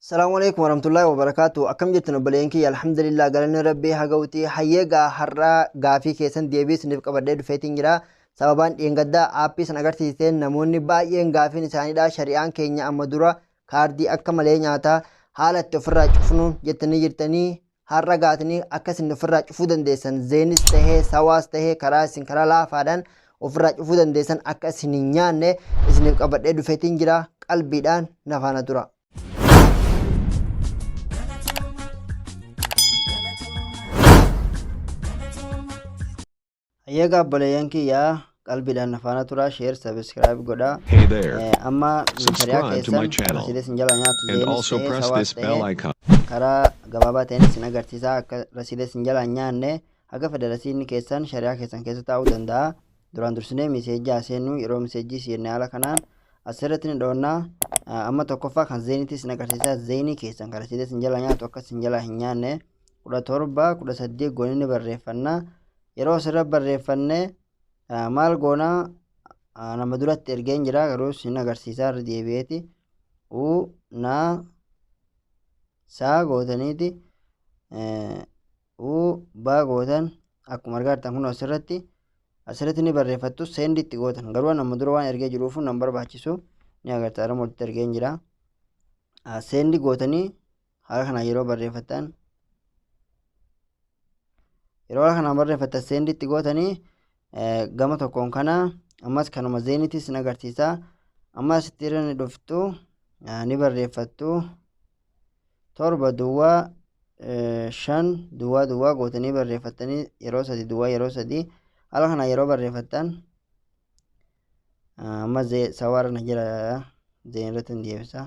Salaamu alaikum warahmatullahi wabarakatuh. Akkam jirtan obboleeyyan kiyya alhamdulillah galanni rabbii haa ga'uti. Hayyee gaa har'aa gaafii keessan deebii isiniif qabadhee dhufeetiin jira. Sababaan dheengaddaa aappii san agarsiisteen namoonni baay'een gaafiin isaaniidha. Shari'aan keenya amma dura kaardii akka malee nyaata. Haala itti ofirraa cufnuun jettanii jirtanii har'a gaatanii akka isin ofirraa cufuu dandeessan zeenis tahee sawaas tahee karaa isin karaa laafaadhaan ofirraa cufuu dandeessan akka isin hin nyaanne isiniif qabadhee dhufeetiin jira qalbiidhaan na faana tura. Hayyeega obboleeyyan kiyya qalbiidhaan na faana turaa share subscribe godhaa. Hey there. Eh, Amma shari'aa Subscribe to keessan my channel asiilee sin jala nyaatu and zeenis also ta'ee press sawaas this bell ta'ee icon. karaa gabaabaa ta'een isin agarsiisaa akka rasiilee sin jala hin nyaanne haga federasiinni keessan shari'aa keessan keessa taa'uu danda'a. Duraan dursinee miseejjii haa seennu yeroo miseejjii seenne haala kanaan asirratti ni dhoonna. Ah, Amma tokkoffaa kan zeenitii sin agarsiisaa zeenii keessan kan rasiilee sin jala nyaatu akka sin jala hin nyaanne. 17, 18 goonee ni barreeffanna. Yeroo asirra barreeffanne eh, maal goona Ah, nama duratti ergeen jira garuu sin agarsiisaa irra deebi'eeti. U na saa gootaniiti eh, u baa gootan akkuma argaa jirtan kun asirratti asirratti ni barreeffattu seendi itti gootan garuu nama dura waan ergee jiruuf nan barbaachisu ni agarta arama walitti ergeen jira. Ah, seendi gootanii haala kanaan yeroo barreeffattan yeroo haala kanaan barreeffattan seenditti gootanii gama tokkoon kana ammas kanuma zeenitis ni agarsiisa amma asitti irra ni dhuftu ni barreeffattu torba duwwaa shan duwwaa duwwaa gootanii barreeffattanii yeroo sadi duwwaa yeroo sadi haala kanaan yeroo barreeffattan amma sawaarra na jira zeen irratti hin deebisa.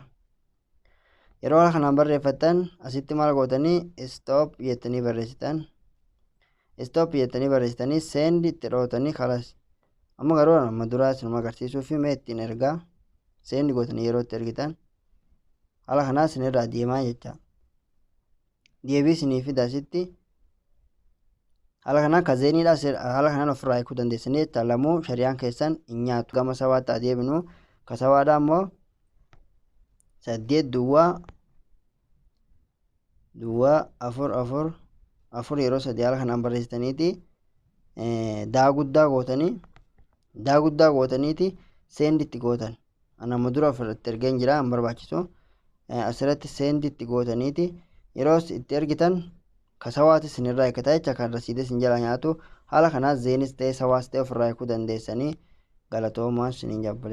yeroo kana kanaan barreeffattan asitti maal gootanii stop jettanii barreessitan stop jettanii barreessitanii seendi itti dhootanii kalas amma garuu amma duraa isinuma agarsiisuu fi mee ittiin ergaa seendi gootanii yeroo itti ergitan haala kanaa isinirraa deemaa jecha deebii isinii fida asitti haala kanaan ka zeeniidha haala kanaan ofirraa hiikuu dandeessanii jecha lamuu shari'aan keessan hin nyaatu gama sawaatti adeemnu ka sawaadha ammoo saddeet duwwaa duwwaa afur afur afur yeroo sadii haala kanaan barreessitaniiti daa guddaa gootanii daa guddaa gootaniiti seenditti gootan Ana amma dura ofirratti ergeen jira hin barbaachisu. Eh, Asirratti seendi itti gootaniiti yeroos itti ergitan ka sawaati sinirraa eegataa jecha kan rasiidee sin jalaa nyaatu haala kanaa zeenis ta'ee sawaas ta'ee ofirraa eeguu dandeessanii galatoomaa sinin jabbalee.